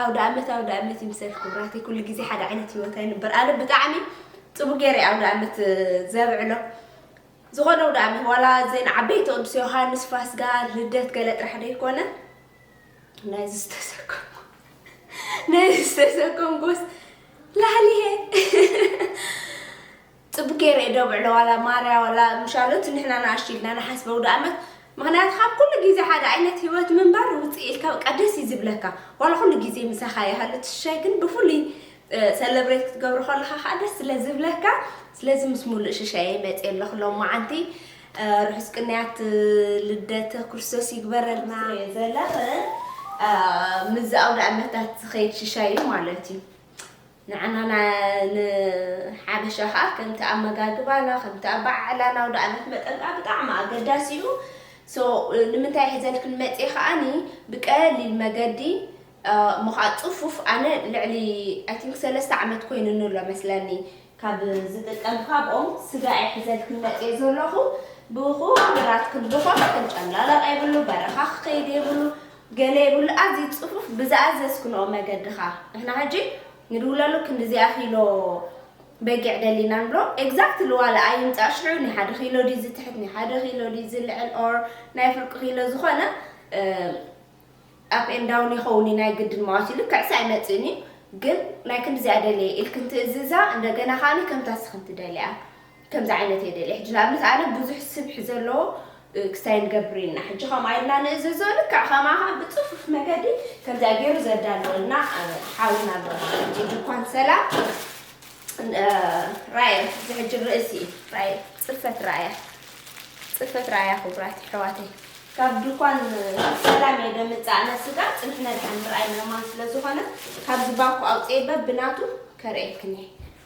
ኣውዳኣመት ኣውዳኣመት ይምሰል ክቡራተይ ኩሉ ግዜ ሓደ ዓይነት ሂወት ኣይንበር ኣነ ብጣዕሚ ጽቡቅ ገይረ ኣውዳኣመት ዘብዕሎ ዝኾነ ኣውዳኣመት ዋላ ዜና ዓበይቲ ቅዱስ ዮሃንስ ፋስጋ ልደት ገለ ጥራሕ ደይኮነ ናይ ዝተሰከሙ ናይ ዝተሰከምኩስ ላህሊሄ ጽብቅ ገይረ እየ ደብዕሎ ዋላ ማርያ ዋላ ምሻሎ እቲ ንሕና ንኣሽቱ ኢልና ንሓስበ ውድኣመት ምክንያቱ ካብ ኩሉ ግዜ ሓደ ኣይነት ሂወት ምንባር ውጽእ ኢልካ በቃ ደስ እዩ ዝብለካ ዋላ ኩሉ ግዜ ምሳካ ይሃሉ እቲ ሽሻይ ግን ብፍሉይ ሰለብሬት ክትገብሮ ከለካ ከኣ ደስ ስለ ዝብለካ ስለዚ ምስ ሙሉእ ሽሻየ መጽየ ኣለኩ ሎማዓንቲ ርሑስ ቅንያት ልደተ ክርስቶስ ይግበረልና ዘለኸ ምዚ ኣውደ ኣመታት ዝኸይድ ሽሻይ እዩ ማለት እዩ ንዓና ንሓበሻ ከኣ ከምቲ ኣመጋግባና ከምቲ ኣበዓዕላና ኣውደኣመት መጠን ከኣ ብጣዕሚ ኣገዳሲ እዩ so ንምንታይ ሒዘልክን መጽየ ከኣ ብቀሊል መገዲ እሞ ከኣ ጽፉፍ ኣነ ልዕሊ i think ሰለስተ ዓመት ኮይኑኒ ኣሎ መስለኒ ካብ ዝጥቀም ካብኦም ስጋ እየ ሒዘልክን መጽየ ዘለኹ ብኹሉ ናትክን ዝኾነ ክንጨምላለቕ የብሉ በረኻ ክኸይድ የብሉ ገለ የብሉ ኣዚ ጽፉፍ ብዝኣዘዝክንኦ መገዲ ከኣ ንሕና ሕጂ ንድውለሉ ክንድዚኣ ኪሎ በጊዕ ደሊና ንብሎ ኤግዛክትሊ ዋላ ኣይምጻእ ሽዑ ናይ ሓደ ኪሎ ድዩ ዝትሕት ናይ ሓደ ኪሎ ድዩ ዝልዕል ኦር ናይ ፍርቂ ኪሎ ዝኾነ ኣፕ ኤን ዳውን ይኸውን እዩ ናይ ግድን መዋቲ ልክዕሲ ኣይመጽእን እዩ ግን ናይ ክንድዚኣ ደልየ ኢልክን ትእዝዛ እንደገና ከኣ ከምታ ስክን ትደልያ ከምዚ ዓይነት እየ ደልየ ሕጂ ንኣብነት ኣነ ብዙሕ ስብሒ ዘለዎ ክስታይ ንገብር ኢልና ሕጂ ከምኣ ኢልና ንእዘዞ ልክዕ ከምኣ ከኣ ብጽፉፍ መገዲ ከምዚኣ ገይሩ ዘዳለወልና ሓውና ኣሎ ሕጂ ድኳን ሰላም ራእየ እዚ ሕጂ ርእሲ እዩ ራእየ ጽፈት ራእያ ጽፈት ራእያ ክቡራት ኣሕዋተይ ካብ ድኳን ሰላም እየ ደምጻእ ነስጋ ጽንሒ ነድሓን ራእይ ምእማን ስለ ዝኾነ ካብዚ ባኮ ኣውጽኤ በብናቱ ከርእየክን እየ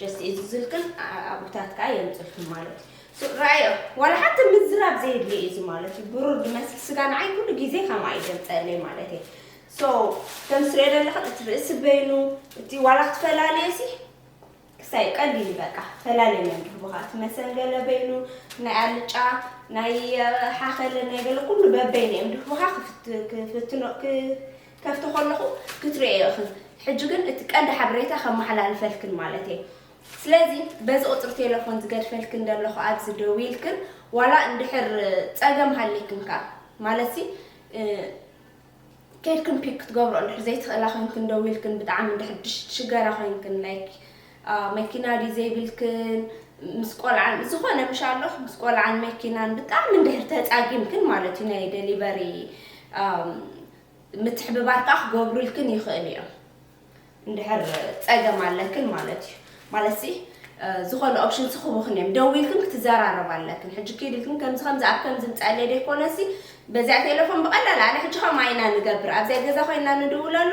ጀስት እዚ ዝልክን ኣጉታት ከኣ የምጽልኩም ማለት እዩ። ሱቅ ረኣዮ ዋላ ሓንቲ ምዝራብ ዘየድልዮ እዩ እዚ ማለት እዩ። ብሩር ድመስል ስጋ ንዓይ ኩሉ ግዜ ከምኣ እዩ ዘምጸለይ ማለት እየ። ሶ ከም ትርእዮ ዘለኽን እቲ ርእሲ በይኑ እቲ ዋላ ክትፈላለዮ ሲ ክሳይ ቀሊል እዩ በቃ ፈላልዮ መን ድህቡኻ እቲ መሰንገለ በይኑ ናይ ኣልጫ ናይ ሓኸለ ናይ ገለ ኩሉ በበይኑ እዮም ድህቡኻ ክፍትኖ ከፍቶ ከለኹ ክትሪኦዮ እኺ ሕጂ ግን እቲ ቀንዲ ሓበሬታ ከመሓላልፈልክን ማለት እየ ስለዚ በዚ ቁጽሪ ቴለፎን ዝገድፈልክን ደለኹ ኣብዚ ደዊልክን ዋላ እንድሕር ጸገም ሃሊክን ከኣ ማለትሲ ኬድክን ፒክ ክትገብሮ እንድሕር ዘይትኽእላ ኮይንክን ደዊልክን ብጣዕሚ እንድሕር ሽገራ ኮይንክን ላይክ መኪና ድዩ ዘይብልክን ምስ ቆልዓን ዝኾነ ምሽ ኣለኹ ምስ ቆልዓን መኪናን ብጣዕሚ እንድሕር ተጻጊምክን ማለት እዩ ናይ ደሊቨሪ ምትሕብባር ከኣ ክገብሩልክን ይኽእሉ እዮም እንድሕር ጸገም ኣለክን ማለት እዩ ማለትሲ ዝኾነ ኦፕሽን ስኽቡኽን እዮም ደዊልክን ክትዘራረብ ኣለክን ሕጂ ኪድልክን ከምዚ ከምዚ ኣብ ከምዚ ምጻለ ደይኮነሲ በዚኣ ቴሌፎን ብቐላል ኣነ ሕጂ ከምኣ ኢና ንገብር ኣብዚኣ ገዛ ኮይና ንድውለሉ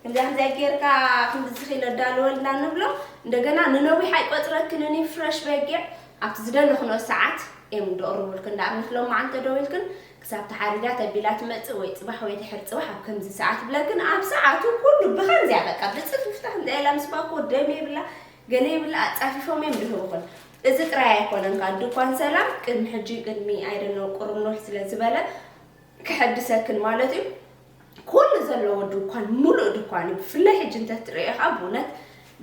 ከምዚኣ ከምዚኣ ጌርካ ክንዲ ዝኺል ኣዳልወልና ንብሎ እንደገና ንነዊሕ ኣይቆጽረክንን እዩ ፍረሽ በጊዕ ኣብቲ ዝደለኽንኦ ሰዓት እዮም ደቕርቡልክን ንኣብነት ሎማዓንቲ ተደዊልክን ክሳብ ተሓሪዳ ተቢላ ትመጽእ ወይ ጽባሕ ወይ ድሕሪ ጽባሕ ኣብ ከምዚ ሰዓት ብላ ግን ኣብ ሰዓቱ ኩሉ ብኸምዚያ በቃ ብጽፍፍታ እንታይ ኢላ ምስ ባኮ ደም የብላ ገለ የብላ ኣጻፊፎም እዮም ድህብኹን እዚ ጥራይ ኣይኮነን ካል ድኳን ሰላም ቅድሚ ሕጂ ቅድሚ ኣይደነው ቁርብ ኖሕ ስለ ዝበለ ክሐድሰክን ማለት እዩ ኩሉ ዘለዎ ድኳን ሙሉእ ድኳን እዩ ብፍላይ ሕጂ እንተትርእዮ ከኣ ብእውነት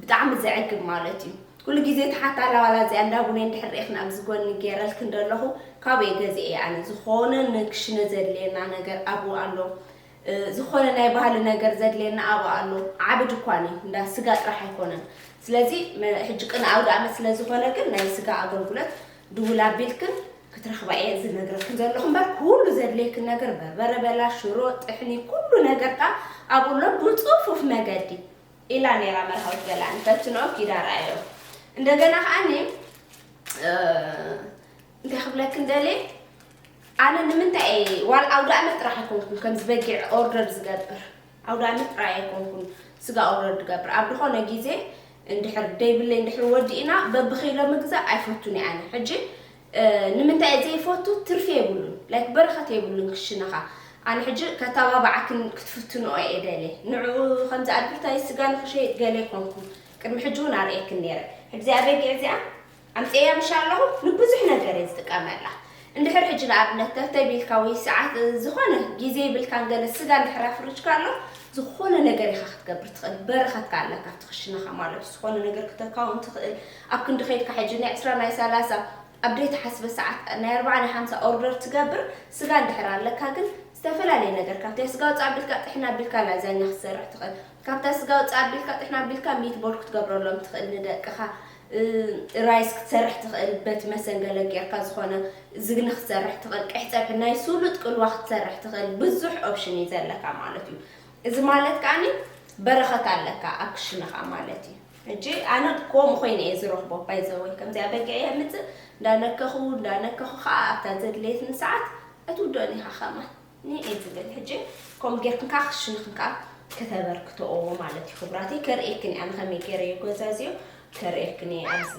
ብጣዕሚ ዘዕግብ ማለት እዩ ኩሉ ግዜ ተሓታላ ዋላ እዚኣ እንዳቡነ እንድሕር ርኢኽን ኣብዚ ጎኒ ገይረልክን ደለኹ ካበይ ገዚኤ እየ ኣነ ዝኾነ ንክሽነ ዘድልየና ነገር ኣብኡ ኣሎ ዝኾነ ናይ ባህሊ ነገር ዘድልየና ኣብኡ ኣሎ ዓቢ ድኳን እዩ እንዳ ስጋ ጥራሕ ኣይኮነን ስለዚ ሕጂ ቅነ ኣውደ ኣመት ስለዝኾነ ግን ናይ ስጋ ኣገልግሎት ድውል ኣቢልክን ክትረኽባ እየ ዝነግረክን ዘለኹ እምበር ኩሉ ዘድልየክን ነገር በርበረ በላ ሽሮ ጥሕኒ ኩሉ ነገር ከኣ ኣብኡ ኣሎ ብጽፉፍ መገዲ ኢላ ነይራ መርሃዊት ገላ እንተትንኦ ኪዳ ረኣዮ እንደገና ከኣኒ እንታይ ክብለክን ደልየ ኣነ ንምንታይ እየ ዋላ ኣውደ ኣመት ጥራሕ ኣይኮንኩን ከምዚ በጊዕ ኦርደር ዝገብር ኣውዳሚ ጥራይ ኣይኮንኩን ስጋ ኦርደር ድገብር ኣብ ድኾነ ጊዜ እንድሕር ደይብለይ እንድሕር ወዲእና በቢ ኪሎ ምግዛእ ኣይፈቱን እየ ኣነ ሕጂ ንምንታይ እየ ዘይፈቱ ትርፊ የብሉን ላይክ በረኸት የብሉን ክሽነኻ ኣነ ሕጂ ከተባባዓክን ክትፍትንኦ እየ ደልየ ንዕኡ ከምዚ ኣድብርታይ ስጋ ንኽሸይጥ ገለ ኮንኩ ቅድሚ ሕጂ እውን ኣርእየክን ነይረ ሕዚ ኣበጊዕ እዚኣ ኣምጺኤያ ምሻ ኣለኹ ንብዙሕ ነገር እየ ዝጥቀመላ እንድሕር ሕጂ ንኣብነት ተፍተይ ቢልካ ወይ ሰዓት ዝኾነ ግዜ ይብልካን ገለ ስጋ እንድሕር ኣፍርጅካ ኣሎ ዝኾነ ነገር ኢኻ ክትገብር ትኽእል በረኸት ከ ኣለካ ኣብቲ ክሽነኻ ማለት ዝኾነ ነገር ክተካውን ትኽእል ኣብ ክንዲ ከይድካ ሕጂ ናይ ዕስራ ናይ ሰላሳ ኣብ ዘይተሓስበ ሰዓት ናይ ኣርባዓ ናይ ሓምሳ ኦርደር ትገብር ስጋ እንድሕር ኣለካ ግን ዝተፈላለየ ነገር ካብታ ስጋ ውፃእ ኣቢልካ ጥሕና ኣቢልካ ላዛኛ ክትሰርሕ ትኽእል ካብታ ስጋ ውፃእ ኣቢልካ ጥሕና ኣቢልካ ሚትቦል ክትገብረሎም ትኽእል ንደቅኻ ጥራይስ ክትሰርሕ ትኽእል በቲ መሰንገለ ጌርካ ዝኾነ ዝግኒ ክትሰርሕ ትኽእል ቀይሕ ጸብሒ ናይ ሱሉጥ ቅልዋ ክትሰርሕ ትኽእል ብዙሕ ኦፕሽን እዩ ዘለካ ማለት እዩ እዚ ማለት ከኣኒ በረኸት ኣለካ ኣብ ክሽነኻ ማለት እዩ ሕጂ ኣነ ከምኡ ኮይነ እየ ዝረኽቦ ባይዘወይ ከምዚኣ በጊዕ እየ ምጽእ እንዳነከኹ እንዳነከኹ ከዓ ኣብታ ዘድለየትኒ ሰዓት ኣይትውድኦን ኢኻ ከማን ንኤ ትብል ሕጂ ከምኡ ጌርክን ከዓ ክሽንኽን ከዓ ከተበርክተኦ ማለት እዩ ክብራተይ ከርእየክን እያ ንኸመይ ገይረ እዩ ጎዛዝዮ ከርእየክን እየ ኣብዚ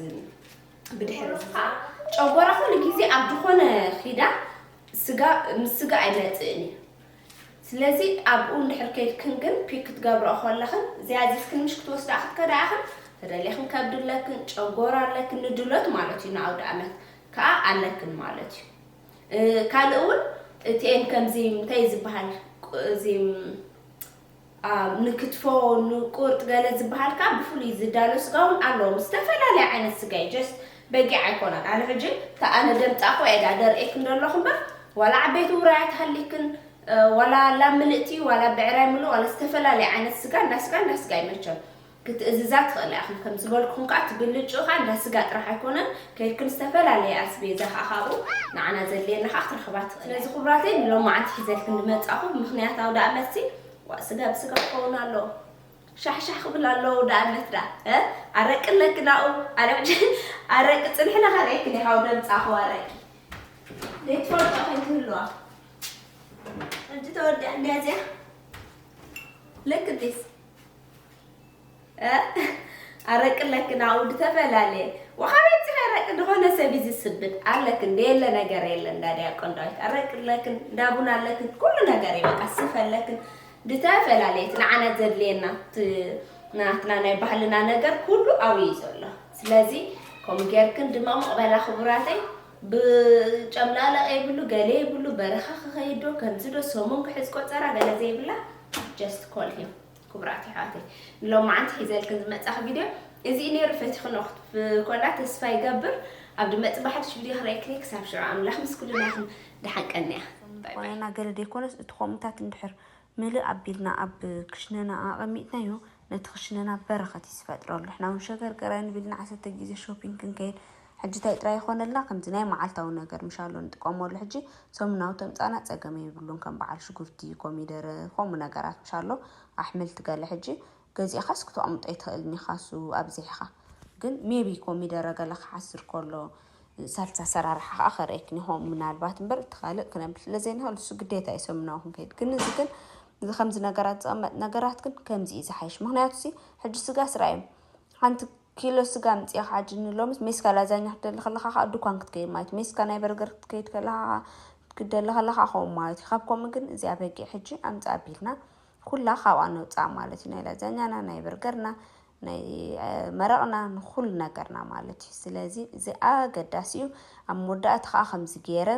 ብድሕሪ እዚ ከዓ ጨጎራ ኩሉ ግዜ ኣብ ዝኾነ ኺዳ ስጋ ምስ ስጋ ኣይመፅእን እዩ ስለዚ ኣብኡ እንድሕር ከይድክን ግን ፒክ ክትገብረኦ ከለኽን ዝያዚትክን ምሽ ክትወስዳኣ ክትከዳ ኢኽን ተደሊኽን ከብዲ ኣለክን ጨጎራ ኣለክን ንድሎት ማለት እዩ ንኣውደ ኣመት ከዓ ኣለክን ማለት እዩ ካልእ ውን እቲኤን ከምዚ እንታይ ዝብሃል እዚ ንክትፎ ንቁርጥ ገለ ዝብሃል ከኣ ብፍሉይ ዝዳሎ ስጋ ውን ኣለዎም ዝተፈላለየ ዓይነት ስጋ እዩ ጀስት በጊዕ ኣይኮነን ኣነ ሕጂ እታ ኣነ ደምጣኹ እየ ድኣ ደርእየክን ደለኹ እምበር ዋላ ዓበይቲ ውራያት ሃሊክን ዋላ ላም ምልእቲ ዋላ ብዕራይ ምሉእ ዋላ ዝተፈላለየ ዓይነት ስጋ እንዳ ስጋ እንዳ ስጋ እዩ መቸም ክትእዝዛ ትኽእላ ኢኽን ከም ዝበልኩኽን ከኣ እቲ ብልጭኡ ከኣ እንዳ ስጋ ጥራሕ ኣይኮነን ከይድክን ዝተፈላለየ ኣስቤዛ ከኣ ካብኡ ንዓና ዘድልየና ከኣ ክትረኽባ ትኽእላ ስለዚ ክብራተይ ንሎማዓንቲ ሒዘልክን ዝመጻኹ ምኽንያት ኣውዳኣመትሲ ዋእ ስጋ ብስጋ ክኸውን ኣለዎ ሻሕሻሕ ክብል ኣለዎ ኣውዳኣመት ደኣ እ ኣረቂ ኣለኪ ናኡ ኣረቂ ኣረቂ ጽንሒ ነኸርኤክን ኢኻ ወደምጻኹ ኣረቂ ዘይትፈልጦ ከይትህልዋ እንጂ ተወዲኣ እንድያ እዚኣ ለክዲስ ኣረቂ ለክን ኣብኡ ድተፈላለየ ወሃቢ ኣብጽሕ ኣረቂ ድኾነ ሰብ እዩ ዝስብድ ኣለክን ደየለ ነገር የለ እንዳ ዲያቆን ዳዊት ኣረቂ ለክን እንዳ ቡና ኣለክን ኩሉ ነገር እዩ በቃ ስፈ ኣለክን ድተፈላለየት ንዓና ዘድልየና ናትና ናይ ባህልና ነገር ኩሉ ኣብኡ እዩ ዘሎ ስለዚ ከምኡ ጌርክን ድማ ምቕበላ ክቡራተይ ብጨምላላቕ የብሉ ገለ የብሉ በረኻ ክኸይዶ ከምዚ ዶ ሰሙን ክሕዝ ቆፀራ ገለ ዘይብላ just call him ክቡራት ኣሕዋተይ ንሎማዓንቲ ሒዘልክን ዝመጻኺ ቪድዮ እዚ ነይሩ ፈቲኽኖ ክትኮላ ተስፋ ይገብር ኣብ ድመጽ ባሕድሽ ቪድዮ ክረእክኒ ክሳብ ሽዑ ኣምላኽ ምስ ኩልና ይኹን ደሓን ቀንያ ቆነና ገለ ደይኮነስ እቲ ኮምታት እንድሕር ምልእ ኣቢልና ኣብ ክሽነና ኣቐሚጥናዮ ነቲ ክሽነና በረኸት እዩ ዝፈጥረሉ ንሕና እውን ሸገርገር ኣይንብልን ዓሰርተ ግዜ ሾፒንግ ክንከይድ ሕጂ ታይ ጥራይ ይኾነልና ከምዚ ናይ መዓልታዊ ነገር ምሻሎ ንጥቀመሉ ሕጂ ሰሙናዊ ተምጻና ጸገም የብሉን ከም በዓል ሽጉርቲ ኮሚደረ ከምኡ ነገራት ምሻሎ ኣሕምልቲ ገለ ሕጂ ገዚእኻስ ክተቅምጦ ኣይትኽእልን ኢኻ እሱ ኣብዚሕኻ ግን ሜቢ ኮሚደረ ገለ ክሓስር ከሎ ሳልሳ ኣሰራርሓ ከኣ ከርእየክን ይኾን ምናልባት እምበር እቲ ካልእ ክነብል ስለ ዘይንኽእል እሱ ግዴታ እዩ ሰሙናዊ ክንከይድ ግን እዚ ግን እዚ ከምዚ ነገራት ዝቅመጥ ነገራት ግን ከምዚ እዩ ዝሓይሽ ምክንያቱ ሕጂ ስጋስ ረኣዮም ሓንቲ ኪሎ ስጋ ኣምጺእኻ ኣጅኒ ሎምስ ሜስካ ላዛኛ ክትደሊ ከለኻ ከኣ ዱኳን ክትከይድ ማለት እዩ ሜስካ ናይ በርገር ክትከይድ ከለኻ ከኣ ክትደሊ ከለኻ ከምኡ ማለት እዩ ካብ ከምኡ ግን እዚ ኣበጊዕ ሕጂ ኣምጽእ ኣቢልና ኩላ ካብኣ ነውጽኣ ማለት እዩ ናይ ላዛኛና ናይ በርገርና ናይ መረቕና ንኹሉ ነገርና ማለት እዩ ስለዚ እዚ ኣገዳሲ እዩ ኣብ መወዳእታ ከኣ ከምዚ ገይረ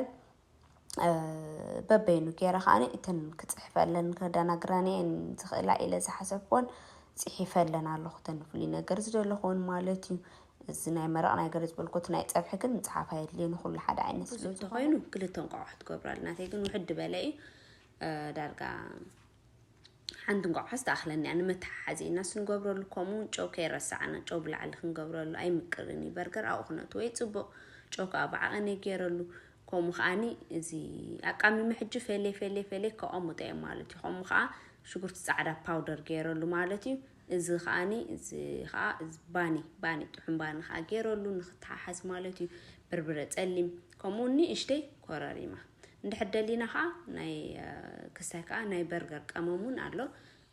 በበይኑ ገይረ ከዓኒ እተን ክፅሕፈለን ከደናግረን እየን ዝኽእላ ኢለ ዝሓሰብክዎን ፅሒፈለን ኣለኹ እተን ፍሉይ ነገር ዝደለኹዎን ማለት እዩ እዚ ናይ መረቕ ናይ ገለ ዝበልኩት ናይ ፀብሒ ግን ምፅሓፍ ኣየድልዮ ንኩሉ ሓደ ዓይነት ስለ እንተኾይኑ ክልተ እንቋቑሖ ትገብራሉ ናተይ ግን ውሕድ በለ እዩ ዳርጋ ሓንቲ እንቋዓስ ትኣኽለኒ እያ ንመተሓሓዚ ኢልናስ ንገብረሉ ከምኡ ውን ጨው ከይረሳዕና ጨው ብላዕሊ ክንገብረሉ ኣይምቅርን እዩ በርገር ኣብኡ ክነእትዎ'ዩ ጽቡቕ ጨው ከኣ ብዓቐነይ ገይረሉ ከምኡ ከኣኒ እዚ ኣቃሚመ ሕጂ ፌሌ ፌሌ ፌሌ ከቐሙጠ እየ ማለት እዩ ከምኡ ከኣ ሽጉርቲ ጻዕዳ ፓውደር ገይረሉ ማለት እዩ እዚ ከኣኒ እዚ ከኣ እዚ ባኒ ባኒ ጥዑም ባኒ ከኣ ገይረሉ ንክተሓሓዝ ማለት እዩ። በርብረ ጸሊም ከምኡ ንእሽተይ ኮረሪማ እንድሕር ደሊና ከኣ ናይ ክስታይ ከኣ ናይ በርገር ቀመም እውን ኣሎ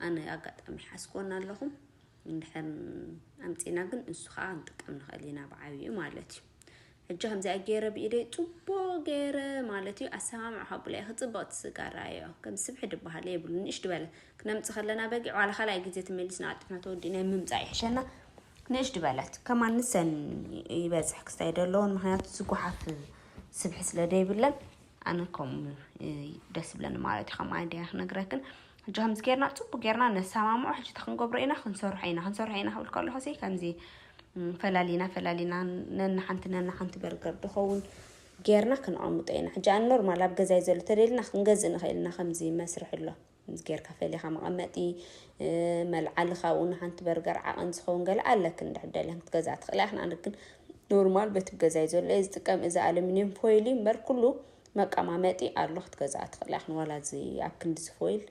ኣነ ኣጋጣሚ ሓዝኮና ኣለኹ እንድሕር ኣምጺና ግን ንሱ ከኣ ንጥቀም ንኽእል ኢና ብዓቢኡ ማለት እዩ። ሕጂ ከምዚኣ ገይረ ብኢደይ ፅቡቅ ገይረ ማለት እዩ ኣሰማምዑ ካቡላ እዩ ክፅብቅቲ ስጋራ እዮ ከም ስብሒ ድበሃል የብሉ ንእሽ ድበለ ክነምፅ ከለና በጊ ዋላ ካልኣይ ግዜ ተመሊስና ኣጥፍና ተወዲእና ምምፃእ ይሕሸና ንእሽ ድበለት ከማን ንሰን ይበፅሕ ክስታይ ደለዎን ምክንያቱ ዝጓሓፍ ስብሒ ስለ ደይብለን ኣነ ከምኡ ደስ ብለኒ ማለት እዩ ከም ኣንዲያ ክነግረክን ሕጂ ከምዚ ጌርና ፅቡቅ ጌርና ነሰማምዖ ሕጂ ክንገብሮ ኢና ክንሰርሖ ኢና ክንሰርሖ ኢና ክብል ከለኹ ከምዚ ፈላሊና ፈላሊና ነንሓንቲ ነንሓንቲ በርገር ድኸውን ጌርና ክንቐምጦ ኢና ሕጂ ኣን ኖርማል ኣብ ገዛይ ዘሎ ተደልና ክንገዝእ ንኽእል ኢና ከምዚ መስርሕ ኣሎ ጌርካ ፈሊኻ መቐመጢ መልዓሊ ካብኡ ንሓንቲ በርገር ዓቐን ዝኸውን ገለ ኣለክ እንድሕደለን ክትገዝኣ ትኽእላ ኢኽና ንግን ኖርማል በቲ ገዛይ ዘሎ እየ ዝጥቀም እዚ ኣሉሚኒየም ፎይል እዩ እምበር ኩሉ መቀማመጢ ኣሎ ክትገዝኣ ትኽእላ ኢኽን ዋላ እዚ ኣብ ክንዲ ዝፎይል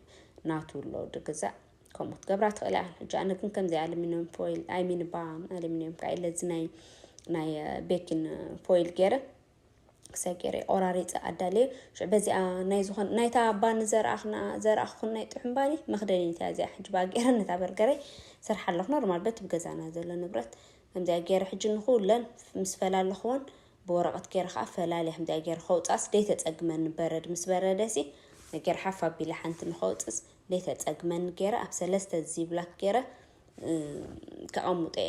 ናቱ ኣሎ ድግዛእ ከምኡ ትገብራ ትኽእል እያ ሕጂ ኣነ ግን ከምዚ ኣሉሚኒየም ፎይል ኣይሚን ባ ኣሉሚኒየም ካ ኢለ እዚ ናይ ናይ ቤኪን ፎይል ገይረ ክሳይ ገይረ ቆራሪፀ ኣዳለየ ሽዑ በዚኣ ናይ ዝኾን ናይታ ባኒ ዘርኣኽና ዘርኣኽኹን ናይ ጥሑን ባኒ መኽደኒት እያ እዚኣ ሕጂ በኣ ገይረ ነታ በርገረይ ስርሓ ኣለኹ ኖርማል በት ብገዛና ዘሎ ንብረት ከምዚኣ ገይረ ሕጂ ንኹለን ምስ ፈላለኽወን ብወረቐት ገይረ ኸኣ ፈላልያ ከምዚኣ ገይረ ከውጽኣስ ደይተጸግመኒ በረድ ምስ በረደሲ ገይረ ሓፍ ኣቢለ ሓንቲ ንኸውጽስ ደይተጸግመኒ ገይረ ኣብ ሰለስተ ዚብላክ ገይረ ከቐምጦ እየ።